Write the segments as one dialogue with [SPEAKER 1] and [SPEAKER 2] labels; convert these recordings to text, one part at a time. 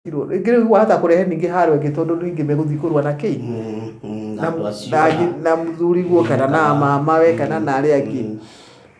[SPEAKER 1] Tirwo. Rĩngĩ rĩu wahota kũrehe ningĩ haro ĩngĩ tondũ andũ aingĩ megũthiĩ kũrũa na kĩi Mm, mm, na andũ acio na- na- na mũthuri guo kana na mamawe kana na arĩa angĩ Mm.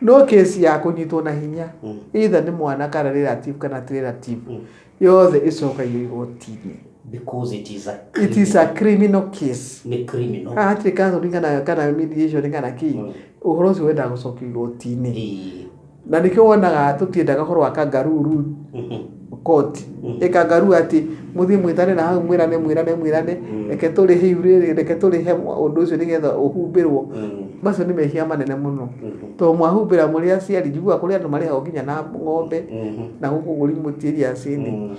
[SPEAKER 1] no kesi ya kũnyitwo na hinya Mm. either nĩ mwana kana relative kana ti relative Mm. yothe ĩcokagio igoti-inĩ because it is a it is a criminal case nĩ criminal haha hatirĩ counseling kana kana mediation kana kĩ Mm. ũhoro ũcio wendaga gũcokio igoti-inĩ Ĩĩ. na nĩkĩo wonaga tũtiendaga ũhoro wa kangaruru Mhm. koti Mm. ĩkangaru atĩ mũthiĩ mwĩtane na hau mwĩrane mwĩrane mwĩrane Mm. reke tũrĩhe iurĩrĩ reke tũrĩhe ũndũ ũcio nĩgetha ũhumbĩrwo Mm. macio nĩ mehia manene mũno Mhm. to mwahumbĩra mũrĩ aciari njiguaga kũrĩ andũ marĩhagwo nginya na ng'ombe Mhm. na gũkũ gũri mũtiĩri acini Mm.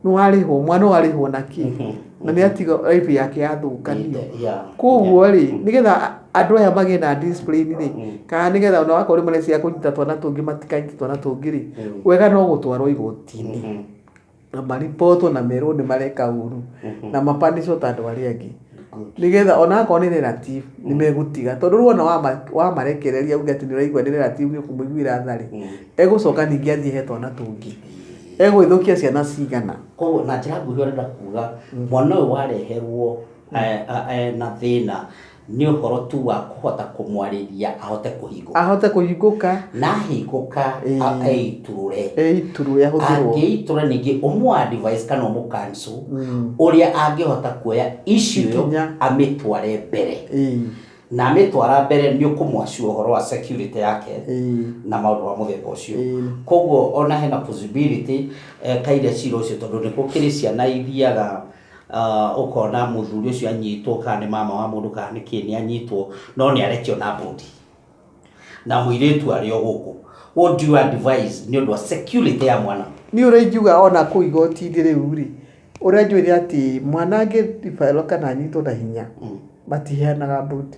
[SPEAKER 1] nĩ warĩhwo mwana warĩhwo na kĩ Mhm. na nĩ atiga life yake yathũkanio Yeah. koguo rĩ nĩgetha andũ aya magĩe na discipline rĩ Mm. kana nĩgetha ona wakorwo rĩmwe nĩ cia kũnyita twana tũngĩ matikanyita twana tũngĩ rĩ Mm. wega no gũtwarwo igotinĩ Mhm. na maripotwo na merwo nĩ mareka ũru na mapanicwo ta andũ arĩa angĩ nĩgetha ona akorwo nĩ relative nĩ megũtiga tondũ rĩu ona wama- wamarekereria uge atĩ nĩ ũraigua nĩ relative nĩ ũkũmũiguĩra tha rĩ egũcoka ningĩ athiĩ he twana tũngĩ egũgĩthũkia ciana cigana koguo na njĩra nguhĩ ũrenda kuga mwana ũyũ wareherwo eh, eh, na thĩna Nĩ ũhoro tu wa kũhota kũmwarĩria ahote kũhingũka. Ahote kũhingũka. Na ahingũka eitũrũre. Eitũrũre ahũthĩrwo. Angĩitũra ningĩ ũmũ advise kana ũmũ cancel mm. ũrĩa angĩhota kuoya issue ĩyo amĩtware mbere. Na amĩtwara mbere nĩ ũkũmwacu ũhoro wa security yake na maũndũ ma mũthemba ũcio. Koguo ona hena possibility eh, kaire cira ũcio tondũ nĩ gũkĩrĩ ciana ithiaga Uh, ũkona mũthuri ũcio anyitwo kana nĩ mama wa mũndũ kana nĩ kĩ nĩ anyitwo no nĩ arekio na bodi na mũirĩtu arĩ o gũkũ what do you advise nĩ ũndũ wa security ya mwana niä å rä ingiuga ona kå igoti-inä rä u rä å rä a njå ä rä atä mwana angä ribaelwo kana anyitwo na hinya matiheanaga bũndi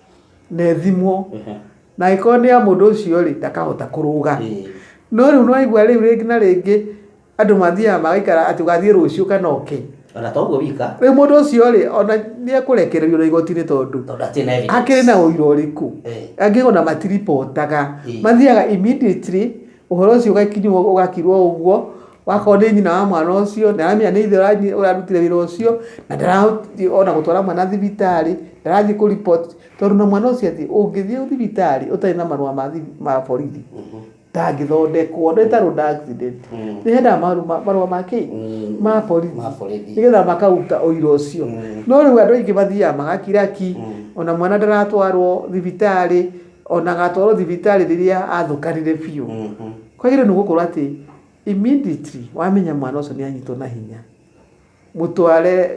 [SPEAKER 1] na ĩthimwo Ehe. na angĩkorwo nĩ ya mũndũ ũcio rĩ ndakahota kũrũga Ĩĩ. no rĩu nĩwaigua rĩu rĩngĩ na rĩngĩ andũ mathiaga magaikara atĩ ũgathiĩ rũciũ kana oke ona to ũguo wika rĩu mũndũ ũcio rĩ ona nĩekũrekererio na igoti-inĩ tondũ tondũ atirĩ na evidence. akĩrĩ na ũira ũrĩkũ Eh. angĩkorwo na matiribotaga Ĩĩ. mathiaga immediately Ũhoro ũcio ũgagĩkinywo ũgakirwo ũguo, wakorwo nĩ nyina wa mwana ũcio, ndaramenya nĩ ithe ũrarutire wĩra ũcio, na ndarathiĩ ona gũtwara mwana thibitarĩ, ndarathiĩ kũ report, tondũ ona mwana ũcio athiĩ, ũngĩthiĩ thibitarĩ ũtarĩ na marũa ma borithi, ndangĩthondekwo, nĩ ta road accident, nĩ hendaga marũa ma kĩ? ma borithi, nĩgetha makaruta ũira ũcio, no rĩu andũ aingĩ mathiaga magakira ki, ona mwana ndaratwarwo thibitarĩ, o na agatwarwo thibitarĩ rĩrĩa athũkanire biũ kwagĩrĩirwo nĩ gũkorwo atĩ immediately wamenya mwana ũcio nĩ anyitwo na hinya mũtware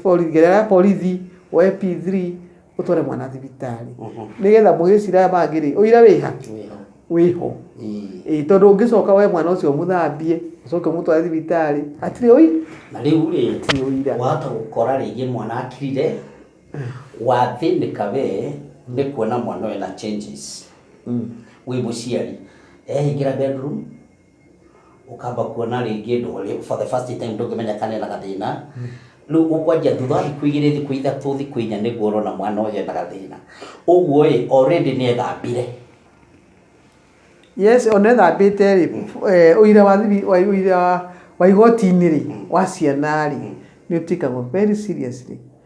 [SPEAKER 1] borithi gerera ya borithi woe P3 ũtware mwana thibitarĩ nĩgetha mũgĩcira aya mangĩ rĩ ũira wĩ ha? wĩ ho ĩĩ tondũ ũngĩcoka woe mwana ũcio ũmũthambie ũcoke ũmũtware thibitarĩ hatirĩ ũira na rĩu rĩ Hatirĩ ũira. wahota gũkora rĩngĩ mwana akirire Wathĩnĩka we nĩ kuona mwana ũyũ ena changes wĩ mũciari. Ehingĩra bedroom, ũkamba kuona rĩngĩ ndũrĩ, for the first time ndũngĩmenya kana ena gathĩna. Rĩu ũkwanjia thutha wa thikũ igĩrĩ, thikũ ithatũ, thikũ inya nĩguo ũrona mwana ũyũ ena gathĩna. Ũguo ĩ, already nĩ ethambire. Yes, ona ethambĩte rĩ, eh, ũira wa thibi- wa- ũira wa igoti-inĩ rĩ, wa ciana rĩ, nĩ ũtĩkagwo very seriously.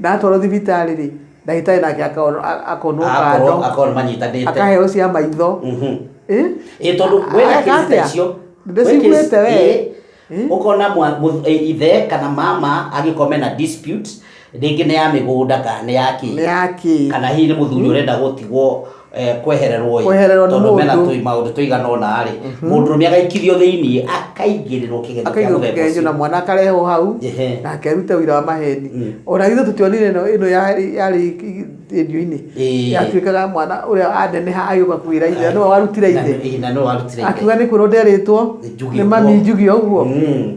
[SPEAKER 1] Ndatwarwo thibitarĩ rĩ, ndagĩtarĩ nake akono- a- akonwo akorwo kando akorwo manyitanĩte akaheo cia maitho Mhm. Eh? Ĩ, tondũ wĩna Areka kĩrĩta atĩa? icio Ndĩciguĩte we. Eh? ũkona mwa- mũ- ĩ, ithe kana mama angĩkorwo mena dispute rĩngĩ nĩ ya mĩgũnda kana nĩ ya nĩ kĩ yakĩ kana hihi nĩ mũthuri ũrenda gũtigwo eh, kwehererwo ĩ, Kwehererwo nĩ tondũ mũndũ. mena tũi- maũndũ tũigana ũna rĩ mũndũrũme agaikithio thĩinĩ akaingĩrĩrwo kĩgerio kĩa akaigwo mũthemba kĩgeranio na ũcio mwana akarehwo hau Ehe. na akerute ũira wa maheni Mm. ona ithuĩ tũtionire ĩno ĩno yarĩ yarĩ redio-inĩ Ĩĩ. yatuĩkaga mwana ũrĩa aneneha agĩũka kwĩra ithe nĩwe warutire Na- ithe ĩ, na nĩwe warutire ithe. akiuga nĩ kwĩrwo nderĩtwo Njugio nĩ mami ũguo. njugio ũguo Mm.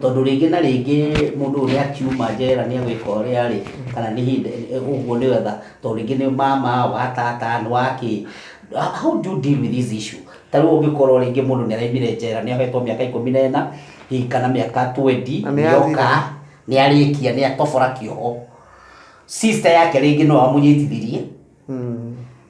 [SPEAKER 1] tondũ rĩngĩ na rĩngĩ mũndũ ũyũ nĩ akiuma njera nĩ egwĩka ũrĩa arĩ kana nĩ hĩndĩ ũguo nĩ wetha tondũ rĩngĩ nĩ mama wa tata nĩ wa kĩ how do you deal with this issue ta rĩu ũngĩkorwo rĩngĩ mũndũ nĩ araimire njera nĩ ahetwo mĩaka ikũmi na ĩna hihi kana mĩaka 20 Na nĩ nĩ oka athira. nĩ arĩkia nĩ atobora kĩoho sister yake rĩngĩ no amũnyitithirie